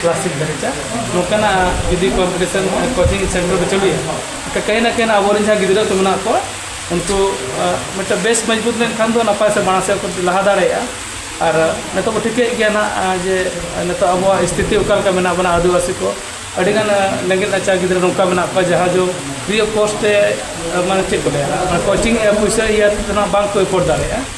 classic ᱫᱷᱟᱹᱨᱤᱡ ᱱᱚᱝᱠᱟᱱᱟᱜ ᱡᱩᱫᱤ ᱠᱚᱢᱯᱤᱴᱤᱥᱚᱱ ᱠᱳᱪᱤᱝ ᱥᱮᱱᱴᱟᱨ ᱨᱮ ᱪᱟᱹᱞᱩᱭᱟ ᱮᱱᱠᱷᱟᱱ ᱠᱟᱹᱦᱤ ᱱᱟ ᱠᱟᱹᱦᱤ ᱱᱟ ᱟᱵᱚᱨᱮᱱ ᱡᱟᱦᱟᱸ ᱜᱤᱫᱽᱨᱟᱹ ᱠᱚ ᱢᱮᱱᱟᱜ ᱠᱚᱣᱟ ᱩᱱᱠᱩ ᱢᱤᱫᱴᱟᱝ ᱵᱮᱥ ᱢᱚᱡᱽᱵᱩᱛ ᱞᱮᱱᱠᱷᱟᱱ ᱫᱚ ᱱᱟᱯᱟᱭ ᱥᱮ ᱢᱟᱲᱟᱝ ᱥᱮᱫ ᱠᱚ ᱞᱟᱦᱟ ᱫᱟᱲᱮᱭᱟᱜᱼᱟ ᱟᱨ ᱱᱤᱛᱚᱜ ᱵᱚ ᱴᱷᱤᱠᱟᱹᱭᱮᱫ ᱜᱮᱭᱟ ᱱᱟᱦᱟᱜ ᱡᱮ ᱱᱤᱛᱚᱜ ᱟᱵᱚᱣᱟᱜ ᱥᱛᱷᱤᱛᱤ ᱚᱠᱟ ᱞᱮᱠᱟ ᱢᱮᱱᱟᱜ ᱵᱚᱱᱟ ᱟᱹᱫᱤᱵᱟᱹᱥᱤ ᱠᱚ ᱟᱹᱰᱤ ᱜᱟᱱ ᱨᱮᱸᱜᱮᱡ ᱱᱟᱪᱟᱨ ᱜᱤᱫᱽᱨᱟᱹ ᱱᱚᱝᱠᱟ ᱢᱮᱱᱟᱜ ᱠᱚᱣᱟ ᱡᱟᱦᱟᱸ ᱫᱚ ᱯᱷᱨᱤ ᱚᱯᱷ ᱠᱚᱥᱴ ᱛᱮ ᱢᱟᱱᱮ ᱪᱮᱫ ᱠᱚ ᱞᱟᱹᱭᱟ ᱠᱳᱪᱤᱝ ᱯᱩᱭᱥᱟᱹ ᱤᱭᱟᱹ ᱛᱮᱫᱚ ᱱᱟᱦᱟᱜ ᱵᱟᱝ ᱠᱚ ᱮᱯᱷᱳᱨᱰ ᱫᱟᱲᱮᱭᱟᱜᱼᱟ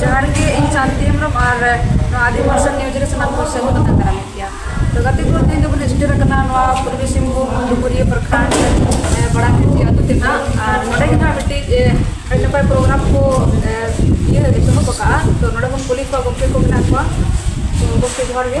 ᱡᱚᱦᱟᱨ ᱜᱮ ᱤᱧ ᱥᱟᱱᱛᱤ ᱦᱮᱢᱵᱨᱚᱢ ᱟᱨ ᱱᱚᱣᱟ ᱟᱹᱰᱤ ᱢᱟᱨᱥᱟᱞ ᱱᱤᱭᱩᱡᱽ ᱨᱮ ᱥᱟᱱᱟᱢ ᱠᱚ ᱥᱟᱹᱜᱩᱱ ᱠᱟᱛᱮ ᱫᱟᱨᱟᱢ ᱜᱮᱭᱟ ᱛᱚ ᱜᱟᱛᱮ ᱠᱚ ᱛᱮᱦᱮᱧ ᱫᱚᱵᱚᱱ ᱥᱴᱮᱨ ᱟᱠᱟᱱᱟ ᱱᱚᱣᱟ ᱯᱩᱨᱵᱤ ᱥᱤᱝᱵᱷᱩᱢ ᱰᱩᱢᱩᱨᱤᱭᱟᱹ ᱯᱨᱚᱠᱷᱟᱱᱰ ᱵᱟᱲᱟ ᱠᱷᱮᱛᱤ ᱟᱹᱛᱩ ᱛᱮ ᱱᱟᱜ ᱟᱨ ᱱᱚᱰᱮ ᱜᱮ ᱱᱟᱜ ᱢᱤᱫᱴᱤᱡ ᱟᱹᱰᱤ ᱱᱟᱯᱟᱭ ᱯᱨᱳᱜᱨᱟᱢ ᱠᱚ ᱤᱭᱟᱹ ᱮᱛᱚᱦᱚᱵ ᱟᱠᱟᱜᱼᱟ ᱛᱚ ᱱᱚᱰᱮ ᱵᱚᱱ ᱠᱩᱞᱤ ᱠᱚᱣᱟ ᱜᱚᱢᱠᱮ ᱠᱚ ᱢᱮᱱᱟᱜ ᱠᱚᱣᱟ ᱛᱚ ᱜᱚᱢᱠᱮ ᱡᱚᱦᱟᱨ ᱜᱮ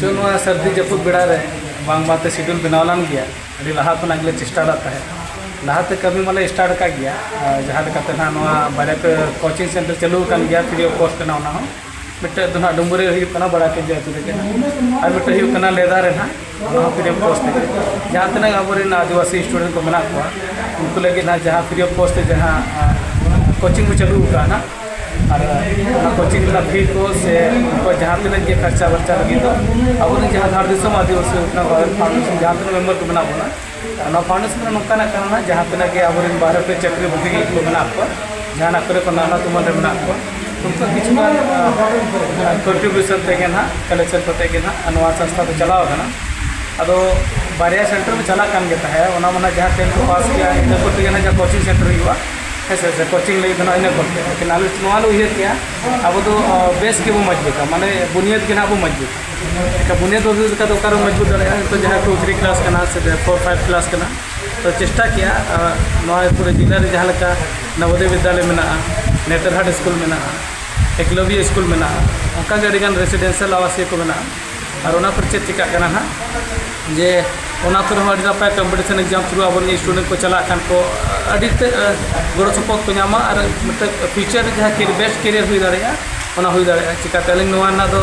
ᱪᱚ ᱱᱚᱣᱟ ᱥᱟᱹᱨᱫᱤ ᱡᱟᱹᱯᱩᱫ ᱵᱮᱲᱟ ᱨᱮ ᱵᱟᱝ ᱵᱟᱝᱛᱮ ᱥᱤᱰᱩᱞ ᱵᱮᱱᱟᱣ ᱞᱮᱱ ᱜᱮᱭᱟ ᱟᱹᱰᱤ ᱞᱟᱦᱟ ᱠᱷᱚᱱᱟᱜ ᱜᱮᱞᱮ ᱪᱮᱥᱴᱟ ᱞᱮᱫ ᱛᱟᱦᱮᱸᱫ ᱞᱟᱦᱟᱛᱮ ᱠᱟᱹᱢᱤ ᱢᱟᱞᱮ ᱥᱴᱟᱨᱴ ᱟᱠᱟᱫ ᱜᱮᱭᱟ ᱟᱨ ᱡᱟᱦᱟᱸ ᱞᱮᱠᱟᱛᱮ ᱱᱟᱦᱟᱜ ᱱᱚᱣᱟ ᱵᱟᱨᱭᱟ ᱯᱮ ᱠᱳᱪᱤᱝ ᱥᱮᱱᱴᱟᱨ ᱪᱟᱹᱞᱩ ᱟᱠᱟᱱ ᱜᱮᱭᱟ ᱯᱷᱨᱤ ᱚᱯᱷ ᱠᱚᱥᱴ ᱠᱟᱱᱟ ᱚᱱᱟ ᱦᱚᱸ ᱢᱤᱫᱴᱮᱱ ᱫᱚ ᱱᱟᱦᱟᱜ ᱰᱩᱢᱩᱨᱤ ᱨᱮ ᱦᱩᱭᱩᱜ ᱠᱟᱱᱟ ᱵᱟᱲᱟᱭ ᱴᱷᱤᱠ ᱜᱮᱭᱟ ᱟᱹᱛᱩ ᱨᱮᱜᱮ ᱱᱟᱦᱟᱜ ᱟᱨ ᱢᱤᱫᱴᱮᱱ ᱦᱩᱭᱩᱜ ᱠᱟᱱᱟ ᱞᱮᱫᱟ ᱨᱮ ᱱᱟᱦᱟᱜ ᱚᱱᱟ ᱦᱚᱸ ᱯᱷᱨᱤ ᱚᱯᱷ ᱠᱚᱥᱴ ᱛᱮᱜᱮ ᱡᱟᱦᱟᱸ ᱛᱤᱱᱟᱹᱜ ᱟᱵᱚᱨᱮᱱ ᱟᱹᱫᱤᱵᱟᱹᱥᱤ ᱥᱴᱩᱰᱮᱱᱴ ᱠᱚ ᱢᱮᱱᱟᱜ ᱠᱚᱣᱟ ᱩᱱᱠᱩ ᱞᱟᱹᱜᱤᱫ ᱱᱟᱜ ᱡᱟᱦᱟᱸ ᱯᱷᱨᱤ ᱚᱯᱷ ᱠᱚᱥᱴ ᱛᱮ ᱡᱟᱦᱟᱸ ᱠᱳᱪᱤᱝ ᱠᱚ ᱪᱟᱹᱞᱩ ᱟᱠᱟᱫᱼᱟ ᱱᱟᱜ ᱟᱨ ᱚᱱᱟ ᱠᱳᱪᱤᱝ ᱨᱮᱱᱟᱜ ᱯᱷᱤ ᱠᱚ ᱥᱮ ᱩᱱᱠᱩᱣᱟᱜ ᱡᱟᱦᱟᱸ ᱛᱤᱱᱟᱹᱜ ᱜᱮ ᱠᱷᱚᱨᱪᱟ ᱵᱟᱨᱪᱟ ᱞᱟᱹᱜᱤᱫ ᱫᱚ ᱟᱵᱚᱨᱮᱱ ᱡᱟᱦᱟᱸ ᱫᱷᱟᱲ ᱫᱤᱥᱚᱢ ᱟᱹᱫᱤᱵᱟᱹᱥᱤ ᱩᱛᱱᱟᱹᱣ ᱵᱷᱟᱨᱚᱛ ᱯᱷᱟᱣᱩᱱᱰᱮᱥᱚᱱ ᱡᱟᱦᱟᱸ ᱛᱤᱱᱟᱹᱜ ᱢᱮᱢᱵᱟᱨ ᱠᱚ ᱢᱮᱱᱟᱜ ᱵᱚᱱᱟ ᱱᱚᱣᱟ ᱯᱷᱟᱣᱩᱱᱰᱮᱥᱚᱱ ᱨᱮ ᱱᱚᱝᱠᱟᱱᱟᱜ ᱠᱟᱱᱟ ᱡᱟᱦᱟᱸ ᱛᱤᱱᱟᱹᱜ ᱜᱮ ᱟᱵᱚᱨᱮᱱ ᱵᱟᱦᱨᱮ ᱨᱮ ᱪᱟᱹᱠᱨᱤ ᱵᱩᱠᱤ ᱠᱚ ᱢᱮᱱᱟᱜ ᱠᱚᱣᱟ ᱡᱟᱦᱟᱱᱟᱜ ᱠᱚᱨᱮ ᱠᱚ ᱱᱟᱞᱦᱟ ᱛᱩᱢᱟᱹᱞ ᱨᱮ ᱢᱮᱱᱟᱜ ᱠᱚᱣᱟ ᱩᱱᱠᱩ ᱠᱤᱪᱷᱩ ᱜᱟᱱ ᱠᱚᱱᱴᱨᱤᱵᱤᱭᱩᱥᱚᱱ ᱛᱮᱜᱮ ᱱᱟᱦᱟᱜ ᱠᱟᱞᱮᱠᱥᱚᱱ ᱠᱟᱛᱮ ᱜᱮ ᱱᱟᱦᱟᱜ ᱱᱚᱣᱟ ᱥᱚᱝᱥᱛᱷᱟ ᱫᱚ ᱪᱟᱞᱟᱣ ᱟᱠᱟᱱᱟ ᱟᱫᱚ ᱵᱟᱨᱭᱟ ᱥᱮᱱᱴᱟᱨ ᱢᱟ ᱪᱟᱞᱟᱜ ᱠᱟᱱ ᱜᱮ ᱛᱟᱦᱮᱸᱫ ᱚᱱᱟ ᱢᱟ ᱱᱟᱦᱟᱜ ᱡᱟᱦᱟᱸ ᱴᱮᱱ ᱠᱚ ᱯᱟᱥ ᱠᱮᱜᱼᱟ ᱤᱱᱟᱹ ᱠᱚ ᱛᱮᱜᱮ ᱱᱟᱦᱟᱜ ᱡᱟᱦᱟᱸ ᱠᱳᱪᱤᱝ ᱥᱮᱱᱴᱟᱨ ᱦᱩᱭᱩᱜᱼᱟ ᱦᱮᱸ ᱥᱮ ᱥᱮ ᱠᱳᱪᱤᱝ ᱞᱟᱹᱜᱤᱫ ᱫᱚ ᱱᱟᱦᱟᱜ ᱤᱱᱟᱹ ᱠᱚ ᱛᱮ ᱞᱮᱠᱤᱱ ᱟᱞᱮ ᱱᱚᱣᱟ ᱞᱮ ᱩᱭᱦᱟᱹᱨ ᱠᱮᱜᱼᱟ ᱟᱵᱚ ᱫᱚ ᱵᱮᱥ ᱜᱮᱵᱚᱱ ᱢᱚᱡᱽᱵᱩᱛᱟ ᱢᱟᱱᱮ ᱵᱩᱱᱤᱭᱟᱹᱫᱽ ᱜᱮ ᱱᱟᱦᱟᱜ ᱵᱚᱱ ᱢᱚᱡᱽᱵᱩᱛᱟ ᱵᱩᱱᱤᱭᱟᱹᱫ ᱵᱟᱹᱵᱤ ᱞᱮᱠᱟ ᱫᱚ ᱚᱠᱟᱨᱮ ᱢᱚᱡᱽᱵᱩᱛ ᱫᱟᱲᱮᱭᱟᱜᱼᱟ ᱱᱤᱛᱚᱜ ᱡᱟᱦᱟᱸ ᱴᱩ ᱛᱷᱨᱤ ᱠᱞᱟᱥ ᱠᱟᱱᱟ ᱥᱮ ᱯᱷᱳᱨ ᱯᱷᱟᱭᱤᱵᱷ ᱠᱞᱟᱥ ᱠᱟᱱᱟ ᱛᱚ ᱪᱮᱥᱴᱟ ᱠᱮᱜᱼᱟ ᱱᱚᱣᱟ ᱯᱩᱨᱟᱹ ᱡᱮᱞᱟ ᱨᱮ ᱡᱟᱦᱟᱸ ᱞᱮᱠᱟ ᱱᱚᱵᱳᱫᱚᱭ ᱵᱤᱫᱽᱫᱟᱞᱚᱭ ᱢᱮᱱᱟᱜᱼᱟ ᱱᱮᱛᱟᱨᱦᱟᱴ ᱥᱠᱩᱞ ᱢᱮᱱᱟᱜᱼᱟ ᱮᱠᱞᱚᱵᱽᱭᱚ ᱥᱠᱩᱞ ᱢᱮᱱᱟᱜᱼᱟ ᱚᱱᱠᱟ ᱜᱮ ᱟᱹᱰᱤ ᱜᱟᱱ ᱨᱮᱥᱤᱰᱮᱱᱥᱤᱭᱟᱞ ᱟᱵᱟᱥᱤᱭᱚ ᱠᱚ ᱢᱮᱱᱟᱜᱼᱟ ᱟᱨ ᱚᱱᱟ ᱠᱚᱨᱮ ᱪᱮᱫ ᱪᱤᱠᱟᱹᱜ ᱠᱟᱱᱟ ᱦᱟᱸᱜ ᱡᱮ ᱚᱱᱟ ᱠᱚᱨᱮ ᱦᱚᱸ ᱟᱹᱰᱤ ᱱᱟᱯᱟᱭ ᱠᱚᱢᱯᱤᱴᱤᱥᱚᱱ ᱮᱠᱡᱟᱢ ᱛᱷᱨᱩ ᱟᱵᱚ ᱨᱮᱱ ᱥᱴᱩᱰᱮᱱᱴ ᱠᱚ ᱪᱟᱞᱟᱜ ᱠᱟᱱ ᱠᱚ ᱟᱹᱰᱤ ᱛᱮᱫ ᱜᱚᱲᱚ ᱥᱚᱯᱚᱦᱚᱫ ᱠᱚ ᱧᱟᱢᱟ ᱟᱨ ᱢᱤᱫᱴᱮᱡ ᱯᱷᱤᱭᱩᱪᱟᱨ ᱨᱮ ᱡᱟᱦᱟᱸ ᱵᱮᱥᱴ ᱠᱮᱨᱤᱭᱟᱨ ᱦᱩᱭ ᱫᱟᱲᱮᱭᱟᱜᱼᱟ ᱚᱱᱟ ᱦᱩᱭ ᱫᱟᱲᱮᱭᱟᱜᱼᱟ ᱪᱤᱠᱟᱹᱛᱮ ᱟᱹᱞᱤᱧ ᱱᱚᱣᱟ ᱨᱮᱱᱟᱜ ᱫᱚ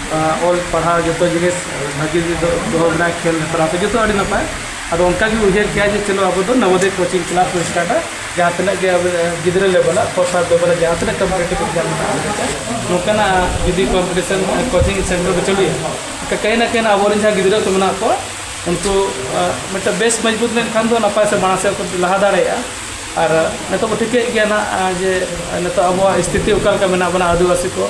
ᱚᱞ ᱯᱟᱲᱦᱟᱣ ᱡᱚᱛᱚ ᱡᱤᱱᱤᱥ ᱵᱷᱟᱹᱜᱤ ᱫᱚᱦᱚ ᱢᱮᱱᱟᱜᱼᱟ ᱠᱷᱮᱞ ᱦᱮᱯᱨᱟᱣ ᱠᱚ ᱡᱚᱛᱚ ᱟᱹᱰᱤ ᱱᱟᱯᱟᱭ ᱟᱫᱚ ᱚᱱᱠᱟ ᱜᱮ ᱩᱭᱦᱟᱹᱨ ᱠᱮᱜᱼᱟ ᱡᱮ ᱪᱚᱞᱚ ᱟᱵᱚ ᱫᱚ ᱱᱚᱵᱚᱫᱤ ᱠᱳᱪᱤᱝ ᱠᱞᱟᱥ ᱵᱚᱱ ᱥᱴᱟᱨᱴᱟ ᱡᱟᱦᱟᱸ ᱛᱤᱱᱟᱹᱜ ᱜᱮ ᱟᱵᱚ ᱜᱤᱫᱽᱨᱟᱹ ᱞᱮᱵᱮᱞ ᱟᱜ ᱯᱷᱳᱨ ᱯᱷᱟᱭᱤᱵᱷ ᱞᱮᱵᱮᱞ ᱟᱜ ᱡᱟᱦᱟᱸ ᱛᱤᱱᱟᱹᱜ ᱠᱚᱢᱯᱤᱴᱤᱴᱤᱵᱽ ᱮᱠᱡᱟᱢ ᱢᱮᱱᱟᱜᱼᱟ ᱱᱚᱝᱠᱟᱱᱟᱜ ᱡᱩᱫᱤ ᱠᱚᱢᱯᱤᱴᱤᱥᱚᱱ ᱠᱳᱪᱤᱝ ᱥᱮᱱᱴᱟᱨ ᱵᱚᱱ ᱪᱟᱹᱞᱩᱭᱟ ᱛᱚ ᱠᱟᱹᱦᱤ ᱱᱟ ᱠᱟᱹᱦᱤ ᱟᱵᱚ ᱨᱮᱱ ᱡᱟᱦᱟᱸ ᱜᱤᱫᱽᱨᱟᱹ ᱠᱚ ᱢᱮᱱᱟᱜ ᱠᱚᱣᱟ ᱩᱱᱠᱩ ᱢᱤᱫᱴᱟᱝ ᱵᱮᱥ ᱢᱚᱡᱽᱵᱩᱛ ᱞᱮᱱᱠᱷᱟᱱ ᱫᱚ ᱱᱟᱯᱟᱭ ᱥᱮ ᱢᱟᱲᱟᱝ ᱥᱮᱫ ᱠᱚ ᱞᱟᱦᱟ ᱫᱟᱲᱮᱭᱟᱜᱼᱟ ᱟᱨ ᱱᱤᱛᱚᱜ ᱵᱚᱱ ᱴᱷᱤᱠᱟᱹᱭᱮᱫ ᱜᱮᱭᱟ ᱦᱟᱸᱜ ᱡᱮ ᱱᱤᱛᱚᱜ ᱟᱵᱚᱣᱟᱜ ᱥᱛᱷᱤᱛᱤ ᱚᱠᱟ ᱞᱮᱠᱟ ᱢᱮᱱᱟᱜ ᱵᱚᱱᱟ ᱟᱹᱫᱤᱵᱟᱹᱥᱤ ᱠᱚ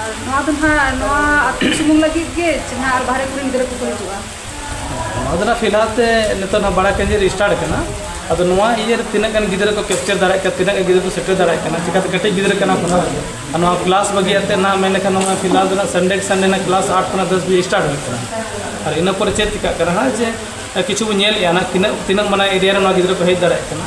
ᱟᱨ ᱱᱚᱣᱟ ᱫᱚ ᱱᱟᱦᱟᱜ ᱱᱚᱣᱟ ᱟᱹᱛᱩ ᱥᱩᱢᱩᱝ ᱞᱟᱹᱜᱤᱫ ᱜᱮ ᱪᱮ ᱱᱟᱦᱟᱜ ᱟᱨ ᱵᱟᱦᱨᱮ ᱠᱚᱨᱮᱱ ᱜᱤᱫᱽᱨᱟᱹ ᱠᱚᱠᱚ ᱦᱤᱡᱩᱜᱼᱟ ᱱᱚᱣᱟ ᱫᱚ ᱱᱟᱦᱟᱜ ᱯᱷᱤᱞᱦᱟᱞ ᱛᱮ ᱱᱤᱛᱚᱜ ᱱᱟᱦᱟᱜ ᱵᱟᱲᱟ ᱠᱮᱱᱫᱨᱚ ᱨᱮ ᱥᱴᱟᱨᱴ ᱟᱠᱟᱱᱟ ᱟᱫᱚ ᱱᱚᱣᱟ ᱤᱭᱟᱹ ᱨᱮ ᱛᱤᱱᱟᱹᱜ ᱜᱟᱱ ᱜᱤᱫᱽᱨᱟᱹ ᱠᱚ ᱠᱮᱯᱪᱟᱨ ᱫᱟᱲᱮᱭᱟᱜ ᱠᱟᱱᱟ ᱛᱤᱱᱟᱹᱜ ᱜᱟᱱ ᱜᱤᱫᱽᱨᱟᱹ ᱠᱚ ᱥᱮᱴᱮᱨ ᱫᱟᱲᱮᱭᱟᱜ ᱠᱟᱱᱟ ᱪᱤᱠᱟᱹᱛᱮ ᱠᱟᱹᱴᱤᱡ ᱜᱤᱫᱽᱨᱟᱹ ᱠᱟᱱᱟ ᱠᱚ ᱱᱟᱦᱟᱜ ᱟᱨ ᱱᱚᱣᱟ ᱠᱞᱟᱥ ᱵᱟᱹᱜᱤ ᱠᱟᱛᱮᱫ ᱱᱟᱦᱟᱜ ᱢᱮᱱ ᱞᱮᱠᱷᱟᱱ ᱱᱚᱣᱟ ᱯᱷᱤᱞᱦᱟᱞ ᱫᱚ ᱱᱟᱦᱟᱜ ᱥᱟᱱᱰᱮ ᱠᱮ ᱥᱟᱱᱰᱮ ᱱᱟᱦᱟᱜ ᱠᱞᱟᱥ ᱟᱴ ᱠᱷᱚᱱᱟᱜ ᱫᱚᱥ ᱵᱟᱡᱮ ᱥᱴᱟᱨᱴ ᱦᱩᱭᱩᱜ ᱠᱟᱱᱟ ᱟᱨ ᱤᱱᱟᱹ ᱯᱚᱨᱮ ᱪᱮᱫ ᱪᱤᱠᱟᱹᱜ ᱠᱟᱱᱟ ᱱᱟᱦᱟᱜ ᱡᱮ ᱠᱤᱪᱷᱩ ᱵᱚᱱ ᱧᱮᱞᱮᱫᱼᱟ ᱱᱟᱦᱟᱜ ᱛᱤᱱᱟᱹᱜ ᱛᱤᱱᱟᱹᱜ ᱢᱟᱱᱮ ᱮᱨᱤᱭᱟ ᱨᱮ ᱱᱚᱣᱟ ᱜᱤᱫᱽᱨᱟᱹ ᱠᱚ ᱦᱮᱡ ᱫᱟᱲᱮᱭᱟᱜ ᱠᱟᱱᱟ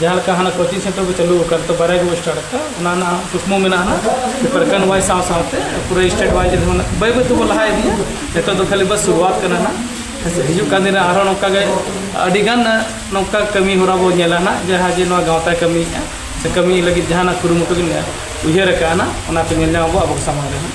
ᱡᱟᱦᱟᱸ ᱞᱮᱠᱟ ᱦᱟᱱᱟ ᱠᱳᱪᱤᱝ ᱥᱮᱱᱴᱟᱨ ᱠᱚ ᱪᱟᱹᱞᱩ ᱟᱠᱟᱱ ᱛᱚ ᱵᱟᱨᱭᱟ ᱜᱮᱵᱚᱱ ᱥᱴᱟᱨᱴ ᱟᱠᱟᱫᱟ ᱚᱱᱟ ᱨᱮᱱᱟᱜ ᱦᱚᱸ ᱠᱩᱠᱢᱩ ᱢᱮᱱᱟᱜᱼᱟ ᱦᱟᱸᱜ ᱡᱮ ᱯᱨᱚᱠᱷᱚᱸᱰ ᱚᱣᱟᱭᱤᱡᱽ ᱥᱟᱶ ᱥᱟᱶᱛᱮ ᱯᱩᱨᱟᱹ ᱥᱴᱮᱴ ᱚᱣᱟᱭᱤᱡᱽ ᱨᱮᱦᱚᱸ ᱦᱟᱸᱜ ᱵᱟᱹᱭ ᱵᱟᱹᱭ ᱛᱮᱵᱚᱱ ᱞᱟᱦᱟ ᱤᱫᱤᱭᱟ ᱱᱤᱛᱚᱜ ᱫᱚ ᱠᱷᱟᱹᱞᱤ ᱵᱟᱥ ᱥᱩᱨᱩᱣᱟᱛ ᱠᱟᱱᱟ ᱦᱟᱸᱜ ᱦᱮᱸ ᱥᱮ ᱦᱤᱡᱩᱜ ᱠᱟᱱ ᱫᱤᱱ ᱨᱮ ᱟᱨᱦᱚᱸ ᱱᱚᱝᱠᱟ ᱜᱮ ᱟᱹᱰᱤ ᱜᱟᱱ ᱱᱚᱝᱠᱟ ᱠᱟᱹᱢᱤ ᱦᱚᱨᱟ ᱵᱚᱱ ᱧᱮᱞᱟ ᱦᱟᱸᱜ ᱡᱟᱦᱟᱸ ᱡᱮ ᱱᱚᱣᱟ ᱜᱟᱶᱛᱟᱭ ᱠᱟᱹᱢᱤᱭᱮᱫᱼᱟ ᱥᱮ ᱠᱟᱹᱢᱤ ᱞᱟᱹᱜᱤᱫ ᱡᱟᱦᱟᱱᱟᱜ ᱠᱩᱨᱩᱢᱩᱴᱩ ᱜᱮ ᱢᱮᱱᱟᱜᱼᱟ ᱩᱭᱦᱟᱹᱨ ᱟᱠᱟᱫᱼᱟ ᱦᱟᱸᱜ ᱚᱱᱟ ᱠᱚ ᱧᱮᱞ ᱧᱟᱢ ᱟᱵᱚ ᱟᱵᱚ ᱥᱟᱢᱟᱝ ᱨᱮ ᱦᱟᱸᱜ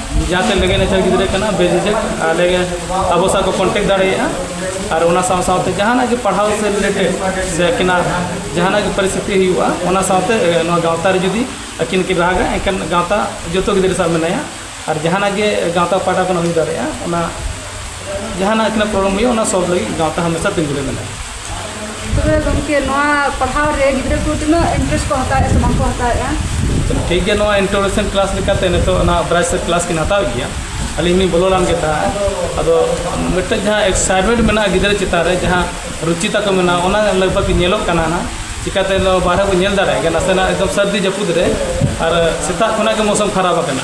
ᱡᱟᱦᱟᱸ ᱛᱮ ᱞᱟᱹᱜᱤᱫ ᱱᱟᱪᱟᱨ ᱜᱤᱫᱽᱨᱟᱹ ᱠᱟᱱᱟ ᱵᱮᱡᱤᱡᱮᱠ ᱟᱞᱮ ᱟᱵᱚ ᱥᱟᱶ ᱠᱚ ᱠᱚᱱᱴᱮᱠᱴ ᱫᱟᱲᱮᱭᱟᱜᱼᱟ ᱟᱨ ᱚᱱᱟ ᱥᱟᱶ ᱥᱟᱶᱛᱮ ᱡᱟᱦᱟᱱᱟᱜ ᱜᱮ ᱯᱟᱲᱦᱟᱣ ᱥᱮ ᱨᱤᱞᱮᱴᱮᱰ ᱥᱮ ᱟᱹᱠᱤᱱᱟᱜ ᱡᱟᱦᱟᱱᱟᱜ ᱜᱮ ᱯᱚᱨᱤᱥᱛᱷᱤᱛᱤ ᱦᱩᱭᱩᱜᱼᱟ ᱚᱱᱟ ᱥᱟᱶᱛᱮ ᱱᱚᱣᱟ ᱜᱟᱶᱛᱟ ᱨᱮ ᱡᱩᱫᱤ ᱟᱹᱠᱤᱱ ᱠᱤᱱ ᱨᱟᱜᱟ ᱮᱱᱠᱷᱟᱱ ᱜᱟᱶᱛᱟ ᱡᱚᱛᱚ ᱜᱤᱫᱽᱨᱟᱹ ᱥᱟᱶ ᱢᱮᱱᱟᱭᱟ ᱟᱨ ᱡᱟᱦᱟᱱᱟᱜ ᱜᱮ ᱜᱟᱶᱛᱟ ᱯᱟᱦᱴᱟ ᱠᱷᱚᱱ ᱦᱩᱭ ᱫᱟᱲᱮᱭᱟᱜᱼᱟ ᱚᱱᱟ ᱡᱟᱦᱟᱱᱟᱜ ᱛᱤᱱᱟᱹᱜ ᱯᱨᱚᱵᱞᱮᱢ ᱦᱩᱭᱩᱜᱼᱟ ᱚᱱᱟ ᱥᱚᱞᱵᱷ ᱞᱟᱹᱜᱤᱫ ᱜᱟᱶᱛᱟ ᱦᱟᱢᱮᱥᱟ ᱛᱤᱸᱜᱩ ᱨᱮ ᱢᱮᱱᱟᱜᱼᱟ ᱛᱚᱵᱮ ᱜᱚᱢᱠᱮ ᱱᱚᱣᱟ ᱯᱟᱲᱦᱟᱣ ᱨᱮ ᱜᱤᱫᱽᱨᱟᱹ ᱠᱚ ᱛᱤᱱᱟᱹᱜ ᱤᱱᱴᱟᱨᱮᱥᱴ ᱠᱚ ᱦᱟᱛᱟᱣᱮᱫᱼᱟ ᱥᱮ ᱵᱟᱝᱠᱚ ᱦᱟᱛᱟᱣᱮᱫᱼᱟ ᱪᱚᱞᱚ ᱴᱷᱤᱠ ᱜᱮᱭᱟ ᱱᱚᱣᱟ ᱤᱱᱴᱨᱳᱰᱟᱠᱥᱚᱱ ᱠᱞᱟᱥ ᱞᱮᱠᱟᱛᱮ ᱱᱤᱛᱚᱜ ᱚᱱᱟ ᱵᱨᱟᱭ ᱥᱮᱫ ᱠᱞᱟᱥ ᱠᱤᱱ ᱦᱟᱛᱟᱣ ᱜᱮᱭᱟ ᱟᱹᱞᱤᱧ ᱞᱤᱧ ᱵᱚᱞᱚ ᱞᱮᱱ ᱜᱮ ᱛᱟᱦᱮᱸᱫ ᱟᱫᱚ ᱢᱤᱫᱴᱮᱡ ᱡᱟᱦᱟᱸ ᱮᱠᱥᱟᱭᱴᱢᱮᱱᱴ ᱢᱮᱱᱟᱜᱼᱟ ᱜᱤᱫᱽᱨᱟᱹ ᱪᱮᱛᱟᱱ ᱨᱮ ᱡᱟᱦᱟᱸ ᱨᱩᱪᱤ ᱛᱟᱠᱚ ᱢᱮᱱᱟᱜᱼᱟ ᱚᱱᱟ ᱞᱟᱜᱽ ᱵᱷᱟᱜᱽ ᱧᱮᱞᱚᱜ ᱠᱟᱱᱟ ᱱᱟᱦᱟᱜ ᱪᱤᱠᱟᱹᱛᱮ ᱱᱚᱣᱟ ᱵᱟᱦᱨᱮ ᱵᱚᱱ ᱧᱮᱞ ᱫᱟᱲᱮᱭᱟᱜ ᱜᱮᱭᱟ ᱱᱟᱥᱮᱱᱟᱜ ᱮᱠᱫᱚᱢ ᱥᱟᱹᱨᱫᱤ ᱡᱟᱹᱯᱩᱫ ᱨᱮ ᱟᱨ ᱥᱮᱛᱟᱜ ᱠᱷᱚᱱᱟᱜ ᱜᱮ ᱢᱳᱥᱚᱢ ᱠᱷᱟᱨᱟᱯ ᱟᱠᱟᱱᱟ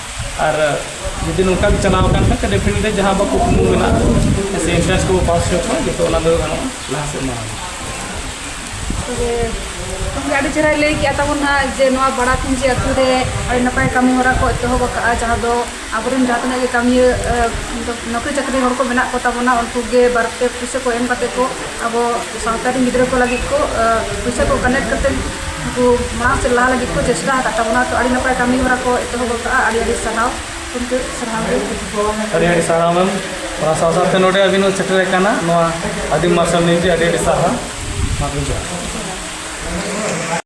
ᱟᱨ ᱡᱩᱫᱤ ᱱᱚᱝᱠᱟ ᱜᱮ ᱪᱟᱞᱟᱣ ᱟᱠᱟᱱ ᱠᱷᱟᱱ ᱰᱮᱯᱷᱤᱱᱮᱴᱞᱤ ᱡᱟᱦᱟᱸ ᱟᱵᱚ ᱠᱩᱠᱢᱩ ᱢᱮᱱᱟᱜ ᱛᱟᱵᱚᱱᱟ ᱥᱮ ᱤᱱᱴᱨᱟᱱᱥ ᱠᱚᱵᱚ ᱯᱟᱥ ᱦᱚᱪᱚ ᱠᱚᱣᱟ ᱡᱚᱛᱚ ᱚᱱᱟ ᱫᱚ ᱜᱟᱱᱚᱜᱼᱟ ᱞᱟᱦᱟ ᱥᱮᱫ ᱢᱟᱲᱟᱝ ᱛᱚᱵᱮ ᱜᱚᱢᱠᱮ ᱟᱹᱰᱤ ᱪᱮᱦᱨᱟᱭ ᱞᱟᱹᱭ ᱠᱮᱜᱼᱟ ᱛᱟᱵᱚᱱ ᱦᱟᱸᱜ ᱡᱮ ᱱᱚᱣᱟ ᱵᱟᱲᱟ ᱯᱩᱸᱡᱤ ᱟᱛᱳ ᱨᱮ ᱟᱹᱰᱤ ᱱᱟᱯᱟᱭ ᱠᱟᱹᱢᱤ ᱦᱚᱨᱟ ᱠᱚ ᱮᱛᱚᱦᱚᱵ ᱟᱠᱟᱫᱼᱟ ᱡᱟᱦᱟᱸ ᱫᱚ ᱟᱵᱚ ᱨᱮᱱ ᱡᱟᱦᱟᱸ ᱛᱤᱱᱟᱹᱜ ᱜᱮ ᱠᱟᱹᱢᱤᱭᱟᱹ ᱱᱚᱠᱨᱤ ᱪᱟᱹᱠᱨᱤ ᱦᱚᱲ ᱠᱚ ᱢᱮᱱᱟᱜ ᱠᱚᱛᱟ ᱵᱚᱱᱟ ᱩᱱᱠᱩ ᱜᱮ ᱵᱟᱨ ᱯᱮ ᱯᱩᱭᱥᱟᱹ ᱠᱚ ᱮᱢ ᱠᱟᱛᱮᱫ ᱠᱚ ᱟᱵᱚ ᱥᱟᱶᱛᱟ ᱨᱮᱱ ᱜᱤᱫᱽᱨᱟᱹ ᱠᱚ ᱞᱟᱹᱜᱤᱫ ᱠᱚ ᱯᱚᱭᱥᱟ ᱠᱚ ᱠᱟᱱᱮᱠᱴ ᱠᱟᱛᱮ ᱩᱱᱠᱩ ᱢᱟᱲᱟᱝ ᱥᱮᱫ ᱞᱟᱦᱟ ᱞᱟᱹᱜᱤᱫ ᱠᱚ ᱪᱮᱥᱴᱟ ᱟᱠᱟᱫ ᱛᱟᱵᱚᱱᱟ ᱛᱚ ᱟᱹᱰᱤ ᱱᱟᱯᱟᱭ ᱠᱟᱹᱢᱤ ᱦᱚᱨᱟ ᱠᱚ ᱮᱛᱚᱦᱚᱵ ᱟᱠᱟᱫᱼᱟ ᱟᱹᱰᱤ ᱟᱹᱰᱤ ᱥᱟᱨᱦᱟᱣ ᱜᱚᱢᱠᱮ ᱥᱟᱨᱦᱟᱣ ᱜᱮ ᱟᱹᱰᱤ ᱟᱹᱰᱤ ᱥᱟᱨᱦᱟᱣ ᱢᱮᱢ ᱚᱱᱟ ᱥᱟᱶ ᱥᱟᱶᱛᱮ ᱱᱚᱰᱮ ᱟᱹᱵᱤᱱ ᱦᱚᱸ ᱥᱮᱴᱮᱨ ᱟᱠᱟᱱᱟ ᱱᱚᱣᱟ ᱟᱹᱫᱤᱢ ᱢᱟᱨᱥᱟᱞ ᱱᱤᱭᱩᱡᱽ ᱟᱹᱰᱤ ᱟᱹᱰᱤ ᱥᱟᱨᱦᱟᱣ ᱢᱟ ᱡᱚᱦᱟᱨ